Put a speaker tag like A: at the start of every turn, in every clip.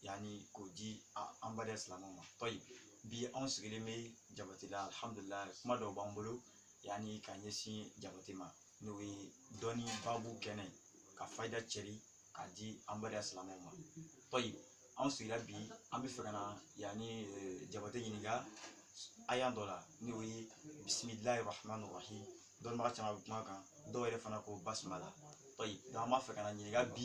A: yanni k'o di an badenya silamɛw ma tɔyi bi anw sigilen bɛ jabati la alihamudulilayi kuma dɔw b'an bolo yanni ka ɲɛsin jabati ma n'o ye dɔnni babu kɛnɛ ka fayida cɛri k'a di an badenya silamɛw ma tɔyi anw sigira bi an b'a fɛ ka na yanni jabati ɲininka aya dɔ la n'o ye bisimilayi rahmani rahim dɔnnibaga caman bɛ kuma kan dɔw yɛrɛ fana ko basimala tɔyi an b'a fɛ ka na ɲininka bi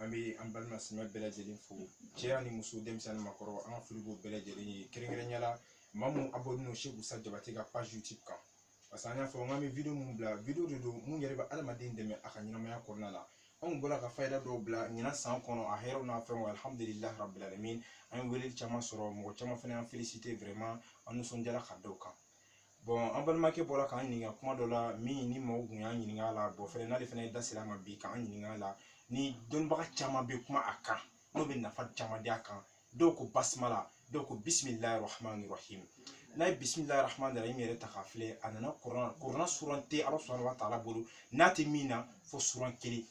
A: an bɛ an balima silamɛ bɛɛ lajɛlen fo cɛ ani muso denmisɛnnin makɔrɔ an ka foli b'o bɛɛ lajɛlen ye kɛrɛnkɛrɛnya la maa mun abɔninen don seku sa jabate ka page youtube kan parce que an y'a fɔ n k'an bɛ video mun bila video de don mun yɛrɛ bɛ adamaden dɛmɛ a ka ɲɛnamaya kɔnɔna la anw bɔra ka fayida dɔw bila ɲinan san kɔnɔ a hɛrɛw n'a fɛnw alhamdulilah rabilalamin an ye weleli caman sɔrɔ mɔgɔ caman fana y'an felisite vraiment an nisɔndiyara ka da o kan bɔn an balimakɛ bɔra k'an ɲininka kuma dɔ la minnu maaw kun y'an ɲininka a la bɔn fɛnɛ n'ale fɛnɛ ye da sira ma bi k'an ɲininka a la ni dɔnnibaga caman bɛ kuma a kan n'o bɛ nafa caman di a kan dɔw ko basimala dɔw ko bisimilayi rahmani rahim n'i ye bisimilayi rahmani rahim yɛrɛ ta k'a filɛ a nana kurana kɔnɔna suran tɛ ala subhanahu wa taala bolo n'a tɛ min na fo suran kelen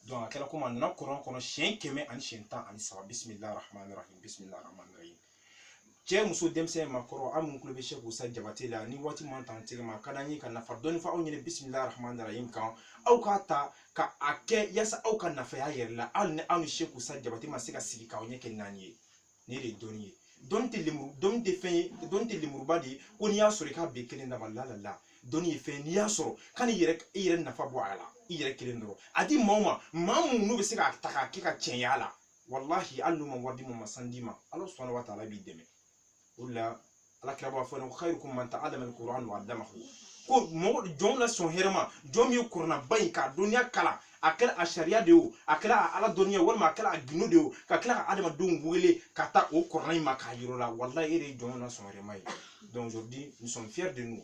A: donc a kɛra komi a nana kurana kɔnɔ siɲɛ kɛmɛ ani siɲɛ tan ani saba bisimilayi rahmani rahim bisimilayi rahmani rahim cɛ muso denmisɛn makɔrɔ aw minnu tulo bɛ seku sa jabate la ni waati man tan tɛgɛ ma ka d'an ye ka nafa dɔɔni fɔ aw ɲɛna bisimilahi rahmani rahim kan aw k'a ta ka a kɛ yasa aw ka nafa y'a yɛrɛ la hali ni aw ni seku sa jabate ma se ka sigi k'aw ɲɛ kɛ naani ye nin de ye dɔnni ye dɔnni tɛ lemuru dɔnni tɛ fɛn ye dɔnni tɛ lemuruba de ye ko n'i y'a sɔrɔ i k'a bɛɛ kelen dama la la la dɔnni ye fɛn ye n'i y'a sɔrɔ ka n'i yɛrɛ i yɛrɛ nafa bɔ a la i yɛrɛ kelen dɔrɔn a di maa o maa maa minnu n'u bɛ se k'a ta k'a kɛ ka tiɲɛya la walahi hali n'u ma wari d'i ma sanu d'i ma ala subhanahu wa ta'ala b'i dɛmɛ o de la ala kira b'a fɔ an ye ko khairukum man ta'allama al-qur'an wa 'allamahu ko mɔgɔ jɔnw la sɔn hɛrɛ ma jɔn min ye kuranaba in k'a dɔnniya kalan a kɛra a sariya de ye o a kɛra a ala dɔnniya walima a kɛra a gundo de ye o ka tila ka adamadenw wele ka taa o kurana in ma k'a yir'o la walahi e de ye jɔnw la sɔn hɛrɛ ma ye donc aujourd'hui nous sommes fiers de nous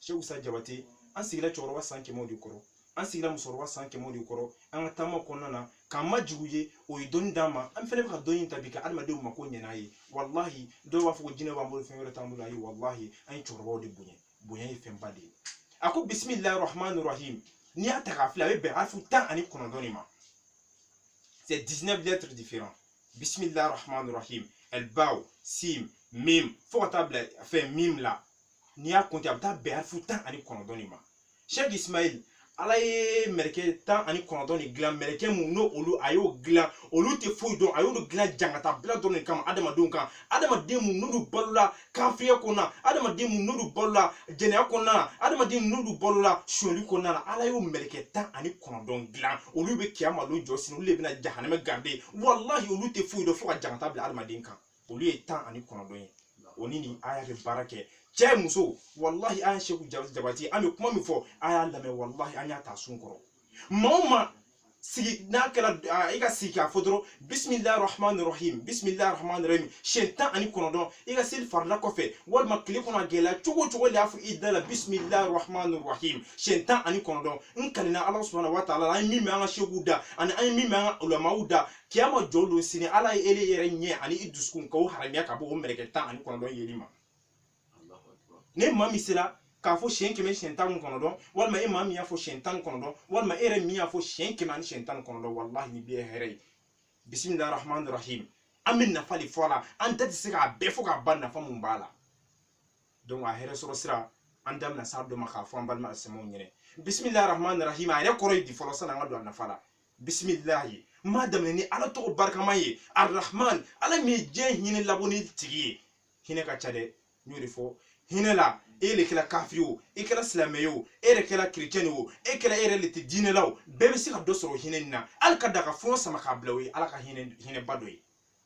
A: seku sa jabate an sigira cɛkɔrɔba san kɛmɛw de kɔrɔ an sigira musokɔrɔba san kɛmɛw de kɔrɔ an ka taama kɔnɔna na k'an majigi u ye o ye dɔnni d'an ma an fɛnɛ bɛ ka dɔnni in ta bi ka adamadenw mako ɲɛ n'a ye walahi dɔw b'a fɔ ko jinɛ b'an bolo fɛn wɛrɛ t'an bolo ayi walahi an ye cɛkɔrɔbaw de bonya bonya ye fɛnba de ye a ko bisimilahi rahmani rahim n'i y'a ta k'a filɛ a bɛ bɛn alifu tan ani kɔnɔntɔn de ma c'est 19 lettres différents bisimilahi rahmani rahim al ba sin mim fo ka taa bila fɛn mim la n'i y'a kɔnte a bɛ taa bɛn harifu tan ani kɔnɔntɔn de ma sɛk ismail ala ye mɛrɛkɛ tan ani kɔnɔntɔn de dilan mɛrɛkɛ mun n'olu a y'o dilan olu tɛ foyi dɔn a y'olu dilan jangata bila dɔrɔn de kama adamadenw kan adamaden mun n'olu balola kafiriya kɔnɔna na adamaden mun n'olu balola jɛnɛya kɔnɔna na adamaden mun n'olu balola sonyali kɔnɔna na ala y'o mɛrɛkɛ tan ani kɔnɔntɔn dilan olu bɛ kiyama don jɔ sini olu de bɛna jahanamɛ garide walahi olu tɛ foyi dɔn fo ka jangata bila adamaden kan olu ye tan ani kɔnɔntɔn ye o ni nin aya bɛ baara kɛ cɛ muso walahi an ye seku Ja- jabati ye an bɛ kuma min fɔ an y'a lamɛn walahi an y'a ta sun kɔrɔ maa o maa sigi n'a kɛra a, i ka sigi k'a fɔ dɔrɔn bisimilahi rahman rahim bisimilahi rahman rahim siyɛn tan ani kɔnɔntɔn i ka seli farila kɔfɛ walima tile kɔnɔ a gɛlɛya cogo o cogo n'e y'a fɔ i da la bisimilahi rahman rahim siyɛn tan ani kɔnɔntɔn n kalila ala subahana wa taala la an ye min mɛn an ka seku da ani an ye min mɛn an ka ulamaw da kiyama jɔ don sini ala ye ele yɛrɛ ɲɛ ani i dusukun k'o haramiya ka bɔ o mɛrɛkɛ tan ani kɔnɔntɔn yeli ma n'e maa min sera k'a fɔ siyɛn kɛmɛ siyɛn tan ni kɔnɔntɔn walima e maa min y'a fɔ siyɛn tan ni kɔnɔntɔn walima e yɛrɛ min y'a fɔ siyɛn kɛmɛ ani siyɛn tan ni kɔnɔntɔn walahi nin bɛɛ ye hɛrɛ ye bisimilahi rahman rahim an bɛ nafa dɔ fɔ a la an da tɛ se k'a bɛɛ fɔ k'a ban nafa mun b'a la donc a hɛrɛ sɔrɔ sira an da bɛna s'a dɔ ma k'a fɔ an balima alisilamɛw ɲɛna bisimilahi rahman rahim a yɛrɛ kɔrɔ ye di fɔlɔ sanni an ka don a nafa la bisimilahi n b'a daminɛ ni ala tɔgɔ barikama ye arahman ala min ye diɲɛ hinɛ labɔnen tigi ye hinɛ ka ca dɛ n y'o de fɔ hinɛ la e de kɛra kafiri o e kɛra silamɛ ye o e yɛrɛ kɛra kirecɛni o e kɛra e yɛrɛ de tɛ diinɛ la o bɛɛ bɛ se ka dɔ sɔrɔ hinɛ nin na hali ka da ka fɔɲɔ sama k'a bila o ye ala ka hinɛ hinɛba dɔ ye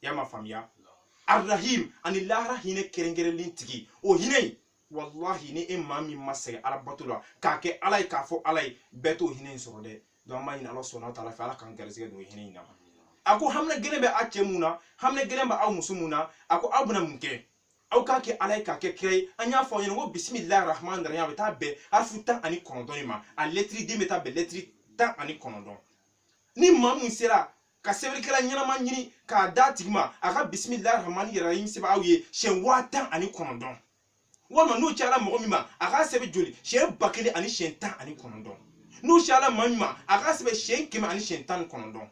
A: y'a ma faamuya arahim ani lahara hinɛ kɛrɛnkɛrɛnlen tigi o hinɛ in walahi ni e maa min ma sɛgɛn ala bato la k'a kɛ ala ye k'a fɔ ala ye bɛɛ t'o hinɛ in sɔrɔ dɛ donc an b'a ɲini ala subahana wa taala fɛ ala k'an garisɛgɛ don hinɛ in na a ko hamina gɛlɛn bɛ a cɛ mun na hamina gɛlɛn bɛ aw muso mun na a ko aw bɛna mun kɛ aw k'a kɛ ala ye k'a kɛ kira ye an y'a fɔ aw ɲɛna ko bisimilahi rahman rahim a bɛ taa bɛn harifu tan ani kɔnɔntɔn in ma a lɛtiri den bɛ taa bɛn lɛtiri tan ani kɔnɔntɔn ni maa mun sera ka sɛbɛnnikɛla ɲɛnama ɲini k'a d'a tigi ma a ka bisimilahi rahman rahim sɛbɛn aw ye siɲɛ waa tan ani kɔnɔntɔn walima n'o cayala mɔgɔ min ma a k'a sɛbɛn joli siɲɛ ba kelen ani siɲɛ tan ani kɔnɔntɔn n'o cayala maa min ma a k'a sɛbɛn siɲɛ kɛmɛ ani siɲɛ tan ni kɔnɔntɔn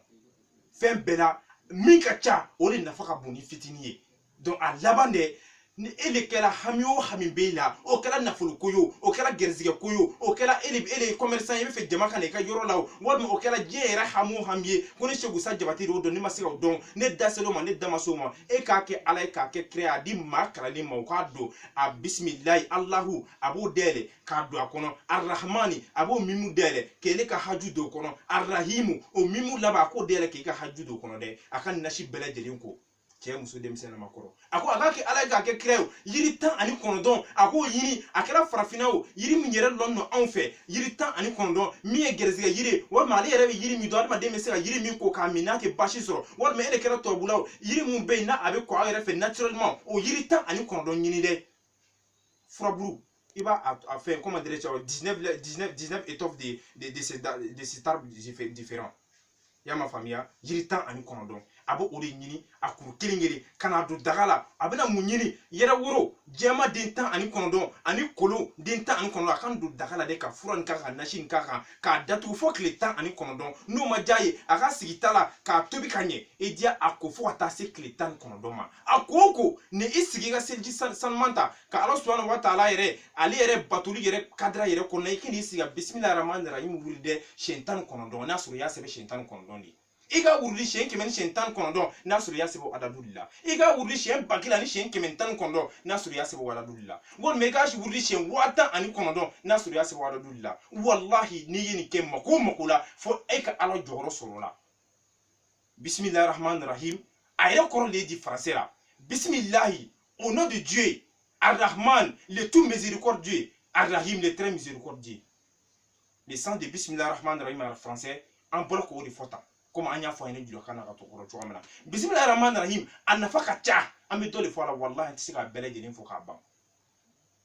A: fɛn bɛɛ la min ka ca o de nafa ka bon ni fitinin ye donc a lamɛn dɛ ni e de kɛra hami o hami b'e la o kɛra nafolo ko ye o o kɛra gɛrisigɛ ko ye o o kɛra e de e de ye commerçant ye i bɛ fɛ jama ka na i ka yɔrɔ la o walima o kɛra diɲɛ yɛrɛ hami o hami ye ko ne seku sa jabate de y'o dɔn ne ma se ka o dɔn ne da sera o ma ne da ma se o ma e k'a kɛ ala ye k'a kɛ kira ye a di maa kalanlen ma o k'a don a bisimilayi alahu a b'o dayɛlɛ k'a don a kɔnɔ arahmani a b'o mimu dayɛlɛ k'ele ka haju don o kɔnɔ arahimu o mimu laban a k'o dayɛlɛ k'i ka haju don o kɔnɔ dɛ a ka nasi bɛɛ lajɛlen ko cɛ muso denmisɛn ni maakɔrɔ a ko a k'a kɛ ala ye k'a kɛ kira ye o yiri tan ani kɔnɔntɔn a k'o ɲini a kɛra farafinna o yiri min yɛrɛ lɔnnen don anw fɛ yiri tan ani kɔnɔntɔn min ye gɛrɛsigɛ yiri ye walima ale yɛrɛ bɛ yiri min dɔn adamaden bɛ se ka yiri min ko k'a min a tɛ basi sɔrɔ walima e de kɛra tubabula o yiri min bɛ yen n'a a bɛ ko aw yɛrɛ fɛ naturellement o yiri tan ani kɔnɔntɔn ɲini dɛ furabulu i b'a a fɛn comment dirais-je 19 19 19 étoffes de de de ces de ces arbres différents y'a ma faamuya yiri tan ani kɔnɔntɔn a bɛ o de ɲini a kuru kelen kelen ka n'a don daga la a bɛna mun ɲini yɛrɛ woro jɛman den tan ani kɔnɔntɔn ani kolon den tan ani kɔnɔntɔn a k'a don daga la dɛ ka fura nin k'a kan ka nasi nin k'a kan k'a datugu fo tile tan ani kɔnɔntɔn n'o ma diya i ye a k'a sigi ta la k'a tobi ka ɲɛ i diya a ko fo ka taa se tile tan ni kɔnɔntɔn ma a ko o kɔ ni i sigi i ka seliji san- sanuman ta ka ala subahana wa taala yɛrɛ ale yɛrɛ batoli yɛrɛ cadre yɛrɛ kɔnɔna i ka n'i sigi ka bisimila rahman rahim wurudi siyɛn tan ni kɔnɔntɔn n'a sɔrɔ i y'a sɛbɛn siyɛn tan ni kɔnɔntɔn de i k'a wurudi siyɛn kɛmɛ ni siyɛn tan ni kɔnɔntɔn n'a sɔrɔ i y'a sɛbɛn adadu de la i k'a wurudi siyɛn ba kelen ani siyɛn kɛmɛ ni tan ni kɔnɔntɔn n'a sɔrɔ i y'a sɛbɛn adadu de la walima i k'a wurudi siyɛn waa tan ani kɔnɔntɔn n'a sɔrɔ i y'a sɛbɛn adadu de la walahi n'i ye nin kɛ mako o mako la fo e ka ala jɔyɔrɔ sɔrɔ o la bisimilahi rahman rahim a yɛrɛ kɔrɔ de ye di français la bisimilahi au nom de dieu arrahman le tout miséricordieux arrahim le très miséricordieux le sens de bisimilahi rahman rahim en français an bɔra k'o de fɔ tan komi an y'a fɔ aw ye julakan na ka to kɔrɔ cogoya min na bisimilahi rahman rahim a nafa ka ca an bɛ dɔ de fɔ a la walahi an tɛ se k'a bɛɛ lajɛlen fɔ k'a ban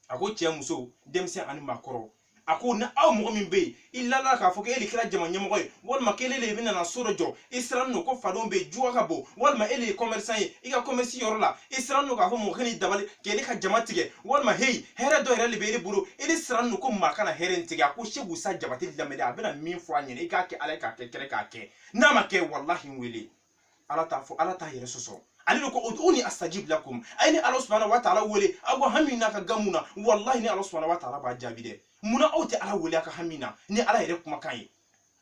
A: a ko cɛ muso denmisɛn ani maakɔrɔ a ko ni aw mɔgɔ min bɛ yen i ladala k'a fɔ k'e de kɛra jama ɲɛmɔgɔ ye walima k'ele de bɛ nana so dɔ jɔ i sirannen don ko fadenw bɛ yen juguya ka bon walima e de ye kɔmɛrisan ye i ka kɔmɛrisi yɔrɔ la i sirannen don k'a fɔ mɔgɔ kan'i dabali k'e de ka jama tigɛ walima heyi hɛrɛ dɔ yɛrɛ de bɛ e bolo e de sirannen don ko maa kana hɛrɛ in tigɛ a ko seku isa jabate lamɛn ni a bɛna min fɔ a ɲɛna i k'a kɛ ala ye k'a kɛ kira ye k'a kɛ n'a ma kɛ walahi n wele ala t'a fɔ ala t'a yɛrɛ sɔsɔ ale de ko ud'uni astajib lakum a ye ne ala subhanahu wa taala wele aw ka hami n'a ka gamu na wallahi ne ala subhanahu wa taala b'a jaabi dɛ munna aw tɛ ala wele a ka hami na ni ala yɛrɛ kumakan ye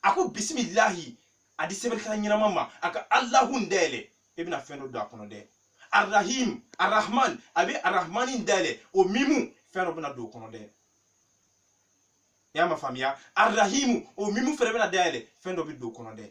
A: a ko bisimilahi a di sɛbɛnnikɛla ɲɛnama ma a ka alahu dayɛlɛ e bɛna fɛn dɔ don a kɔnɔ dɛ arahim arahman a bɛ arahmani dayɛlɛ o mimu fɛn dɔ bɛna don o kɔnɔ dɛ i y'a ma faamuya arahimu o mimu fɛnɛ bɛna dayɛlɛ fɛn dɔ bɛ don o kɔnɔ dɛ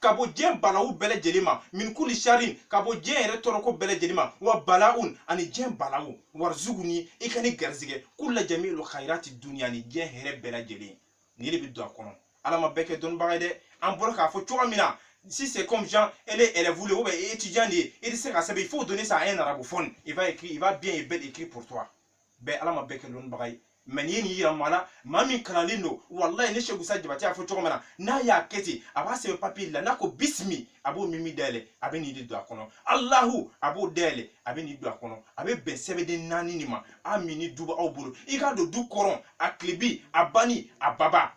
A: ka bɔ diɲɛ balawu bɛɛ lajɛlen ma min kuli sharin ka bɔ diɲɛ yɛrɛ tɔɔrɔko bɛɛ lajɛlen ma wa balaun ani diɲɛ balawu warizuguni i ka ne garisɛgɛ kula jamiil kayirati duniya ni diɲɛ hɛrɛ bɛɛ lajɛlen nin de bɛ don a kɔnɔ ala ma bɛɛ kɛ dɔnnibaga ye dɛ an bɔra k'a fɔ cogoya min na si c'est comme genre, elle est élève ou bien étudiant, il sait qu'à ça, il faut donner ça à un arabophone. Il va écrire, il va bien et belle écrire pour toi. bɛɛ ala ma bɛɛ kɛ lɔnnibaga ye mɛ n'i ye nin yira maa la maa min kalannen don walayi ne segu sa jabate y'a fɔ cogo min na n'a y'a kɛ ten a b'a sɛbɛn papiye la n'a ko bisimi a b'o mimi dayɛlɛ a bɛ nin de don a kɔnɔ alahu a b'o dayɛlɛ a bɛ nin don a kɔnɔ a bɛ bɛn sɛbɛnden naani de ma a min ni du b'aw bolo i k'a don du kɔrɔn a tilebin a bani a baba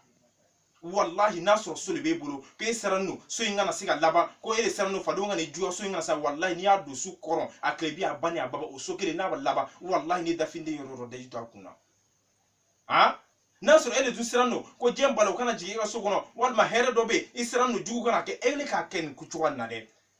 A: walahi n'a sɔrɔ so de b'e bolo ko e sirannen don so in kana se ka laban ko e de sirannen don fadenw ka nijuguya so in kana sa walahi n'i y'a don so kɔrɔn a tilebin a bani a baba o so kelen n'a bɛ laban walahi n'i dafinden yɔrɔ dɔ daji to a kun na han n'a sɔrɔ e de dun sirannen don ko diɲɛ balawu kana jigin e ka so kɔnɔ walima hɛrɛ dɔ bɛ yen i sirannen don jugu kana kɛ e de k'a kɛ nin ko cogoya nin na dɛ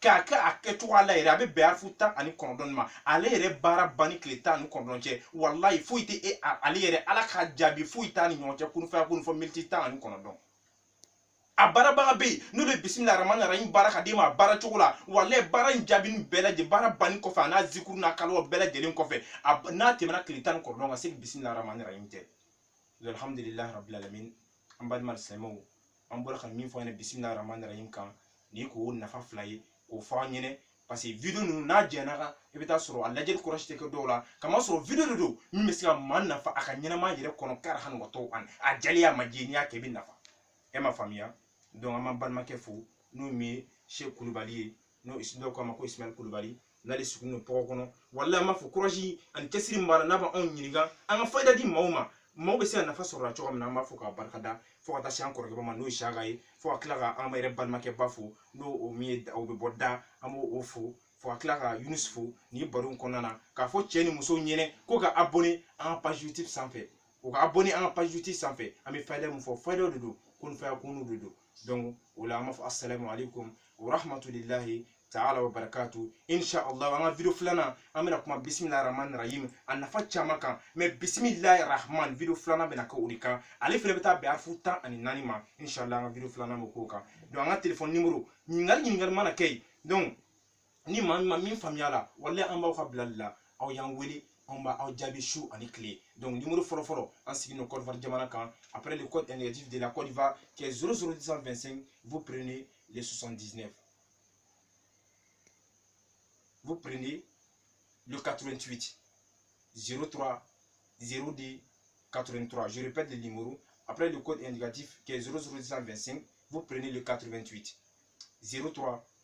A: k'a kɛ a kɛcogoya la yɛrɛ a bɛ bɛn arifu tan ani kɔnɔntɔn ma ale yɛrɛ baara ban ni tile tan ani kɔnɔntɔn cɛ walayi foyi tɛ e ale yɛrɛ ala ka jaabi foyi t'a ni ɲɔgɔn cɛ kun fayakun fo miniti tan ani kɔnɔntɔn a baarabaga bɛ yen n'o de bisimila rahmani rahim baara ka d'e ma a baara cogo la walayi baara in jaabi ni bɛɛ lajɛlen baara banni kɔfɛ a n'a zikuru n'a kalo bɛɛ lajɛlen kɔfɛ n'a tɛmɛna tile tan ni kɔnɔntɔn ka se bisimila rahmani rahim tɛ alhamdulilayi rabilalamin an balima silamɛw an bɔra ka min fɔ an ɲɛna bisimila rahman rahim kan nin k'o nafa fila ye k'o fɔ an ɲɛna paseke video ninnu n'a janyana i bɛ t'a sɔrɔ a lajɛli kɔrɔsi tɛ kɛ dɔw la k'a masɔrɔ video de don min bɛ se ka maa nafa a ka ɲɛnamaya yɛrɛ kɔnɔ karihan wa tawan a diyar'i ye a ma diy'i ye n'i y'a kɛ i bɛ nafa e ma faamuya donc an b'an balimakɛ fo n'o min ye se kulubali ye n'o dɔw k'a ma ko ismail kulubali n'ale sugu n'o tɔgɔ kɔnɔ wala an b'a fo kurazi ani cɛsiri min b'a la n'a bɛ anw ɲininka an ka fayida di maaw ma maaw bɛ se ka nafa sɔrɔ la cogo min na an b'a fo k'a barika da fo ka taa se an kɔrɔkɛ ma n'o ye saka ye fo ka tila ka an yɛrɛ balimakɛba fo n'o o min ye o bɛ bɔ da an b'o o fo fo ka tila ka yunus fo nin baro in kɔnɔna na k'a fɔ cɛ ni muso ɲɛna k'u ka abonné an ka page youtube sanfɛ u ka abonné an ka page youtube sanfɛ an bɛ fayida min fɔ fayidaw de don kun fayakun de don donc o la an b'a fɔ assalamu alaikum wa rahmatulilahi taala wa barakatu insha allah an ka video filanan an bɛna kuma bisimilahi rahmani rahim a nafa caman kan mɛ bisimilahi rahman video filanan bɛna kɛ o de kan ale fana bɛ taa bɛn arifu tan ani naani ma insha allah an ka video filanan bɛ k'o kan donc an ka telefɔni nimoro ɲininkali ɲininkali mana kɛ yen donc ni maa min ma min faamuya la walayi an b'aw ka bila la aw y'an wele an b'aw jaabi su ani tile donc numéro fɔlɔ fɔlɔ an sigilen don Côte d'Ivoire jamana kan après le code indicatif de la Côte d'Ivoire qui est 00225 vous prenez les 79 vous prenez le 88 03 02 83. Je répète le numéro. Après le code indicatif qui est 00225, vous prenez le 88 03